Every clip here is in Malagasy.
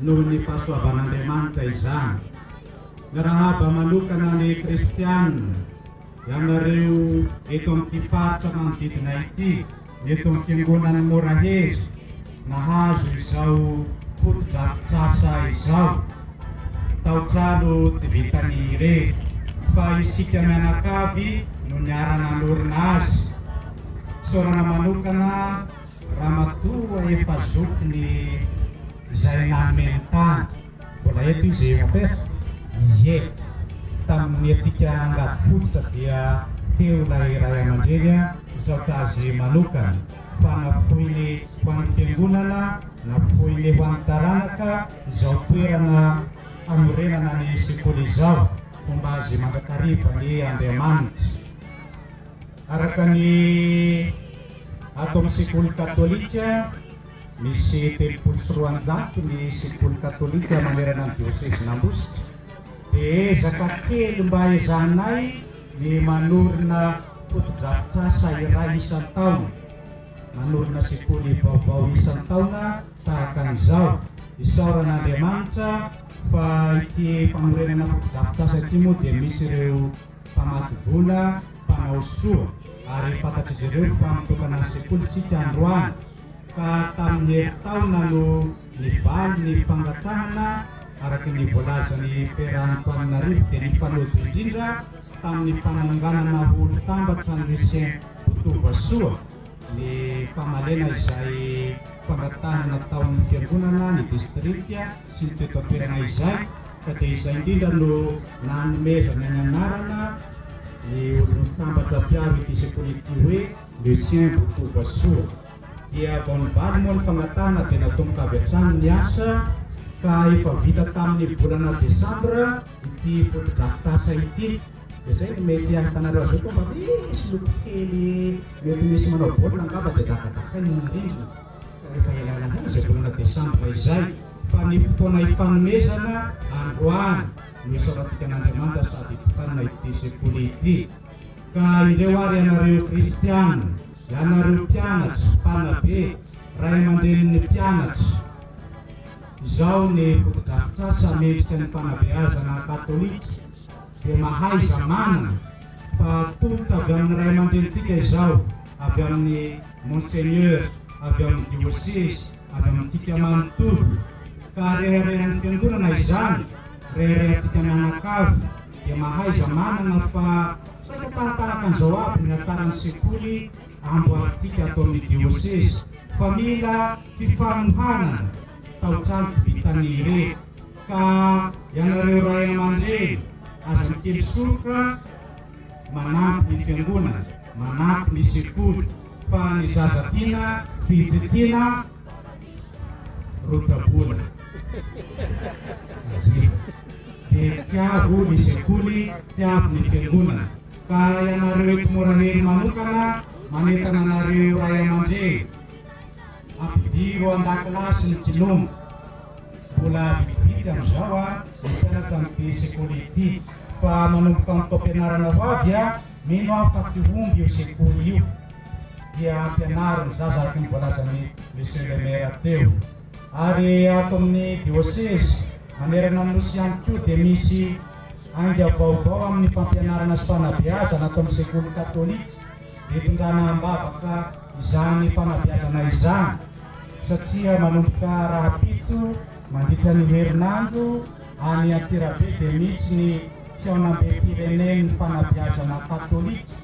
noho ny fahasoavan'Andriamanitra izany. Miarahaba manokana ny Kristiana ianareo eto amin'ity faritra manodidina ity, eto amin'ny Fiangonan'i Morahery, nahazo izao fotodrafitrasa izao. Tao-trano tsy vitan'ny irery, fa isika mianakavy no niara-nanorina azy. Isaorana manokana. Ramatoa efa zoky ny izay nanome ny tany. Mbola eto izy eh mon père? Ie. Tamin'ny antsika angady fototra dia teo ilay ray aman-dreny an, misaotra azy manokana fa nafoiny ho an'ny fiangonana, nafoiny ho an'ny taranaka izao toerana hanorenana ny sekoly izao, homba azy mandrakariva anie Andriamanitra. Araka ny ato amin'ny sekoly katolika, misy telopolo sy roanjato ny sekoly katolika manerana ny diosezin'Ambositra, dia ezaka kely mba ezahanay ny manorina fotodrafitrasa iray isan-taona, manorina sekoly vaovao isan-taona tahaka an'izao. Isaorana Andriamanitra fa ity fanorenana fotodrafitrasa ity moa dia misy ireo. mpamatsy vola, mpanao soa, ary fantatr'izy ireo fa mitokana ny sekoly isika androany, ka tamin'ny herintaona no nivaly ny fangatahana araka ny voalazan'i Père Antoaninarivo dia nifanojo indrindra tamin'ny fananganana ho olo-tambatra an'i Lucien Botovoasoa ny famalena izay fangatahana nataon'ny fiangonana ny distrika sy ny peta-toerana izay ka dia izay indrindra no nanomezana ny anarana ny olon-tambatra mpiaro ity sekoly ity hoe Lucien Botovasoa. Dia vao nivaly moa ny fangatahana dia natomboka avy hatrany ny asa ka efa vita tamin'ny volana desambra ity fotodrafitrasa ity. Dia izay no mety ahitanareo azy eo koa mba misy loko kely mety misy manao baolina angamba dia dakadakaina ny rindrina. rehefa ialana voly izay volana desambra izay, fa ny fotoana ifanomezana androany no isaorantsika an'Andriamanitra sady itokanana ity sekoly ity. Ka indreo ary ianareo kristiana, ianareo mpianatra, mpanabe, ray aman-drenin'ny mpianatra, izao ny fotodrafitrasa mendrika ny fanabeazana katolika dia mahaiza manana fa tolotra avy amin'ny ray aman-drenintsika izao avy amin'ny Monseigneur avy amin'ny diosezy avy amintsika manontolo ka reharehan'ny fiangonana izany, reharehantsika mianakavy dia mahaiza manana fa saika tarataraka an'izao aby ny hataran'ny sekoly amboarintsika ato amin'ny diosezy fa mila fifanohanana taotrano tsy vitan'ny ireto ka ianareo ray aman-dreny aza mikely soroka manampy ny fiangonana Manampy ny sekoly fa ny zaza tiana vitsy tiana ro tsaboina. Ahiana. Dia tiavo ny sekoly, tiavo ny fiangonana. Ka ianareo eto Morahely manokana manentana anareo ray aman-dreny, ampidiro an-dakilasy ny kinomo. Mbola vitsivitsy amin'izao ny mpianatra amin'ity sekoly ity fa manomboka amin'ny taom-pianarana ho avy a! Mino aho fa tsy omby io sekoly io dia ampianaro ny zaza araka ny voalazan'i Monsieur le Maire teo. Ary ato amin'ny Diocèse manerana ny Nosy ihany koa dia misy ainga vaovao amin'ny fampianarana sy fanabeazana ato amin'ny sekoly katolika dia tondrana am-bavaka izany fanabeazana izany satria manomboka rahampitso mandritra ny herinandro Any Antsirabe dia misy ny Fihaonambem-pirenen'ny Fanabeazana Katolika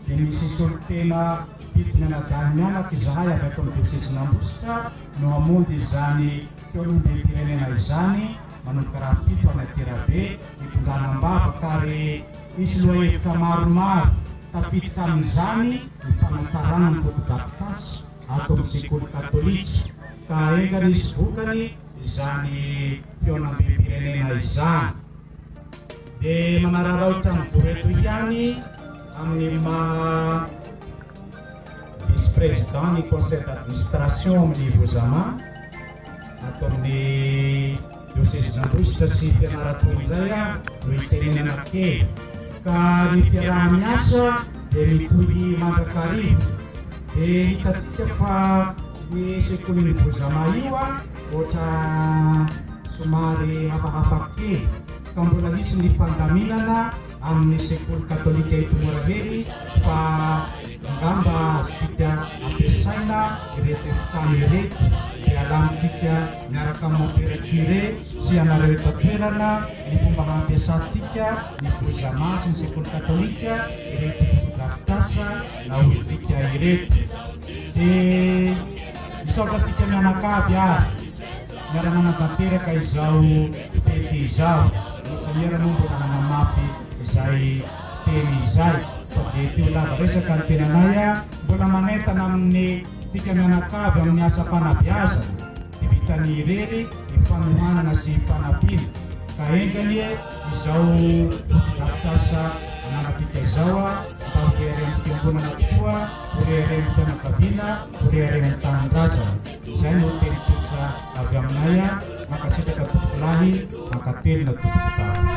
dia misy solontena mpidina anadahy mianaka izahay avy ato amin'ny diosezin'Ambositra no hamonjy izany Fihaonambem-pirenena izany manomboka rahampitso any Antsirabe hitondrana am-bavaka ary misy lohahevitra maromaro tafiditra amin'izany ny fanatsaranan'ny fotodrafitrasa ato amin'ny sekoly katolika ka enga nisy vokany izany fihaonambem-pirenena izany dia manararaotra ny voreto ihany amin'ny maha vice président ny conseil d'administration amin'ny Vozama ato amin'ny diosezin'Ambositra sy Fianarantsoa indray aho no hitenenana kely ka ny fiaraha-miasa dia mitohy mandrakariva. Dia hitantsika fa io sekolin'i Bozama io ohatra somary hafahafa kely ka mbola hisy ny fandaminana amin'ny sekoly katolika eto Morahely fa angamba azontsika ampiasaina ireto efitrano ireto dia alamintsika miaraka amin'ny Mompera Curé sy ianareo eto an-toerana ny fomba hampiasantsika ny Bozama sy ny sekoly katolika ireto fotodrafitrasa naotintsika ireto de misaotra antsika mianakavy ary miara manatanteraka izao fety izao mitsahera moa mbola nanamafy izay teny izay fa de ty ho lava resaka ny tenanay a mbola manentana amin'ny tsika mianakavy amin'ny asam-panabeazana Tsy vitan'ny irery ny fanohanana sy fanampiana ka enga anie izao fotodrafitrasa ananantsika izao mba ho reharehan'ny fiangonana tokoa, ho reharehan'ny fianakaviana, ho reharehan'ny tanindrazana. Izay no teny tsotra avy aminay. Mankasitraka tompokolahy, mankatelina tompokolahy.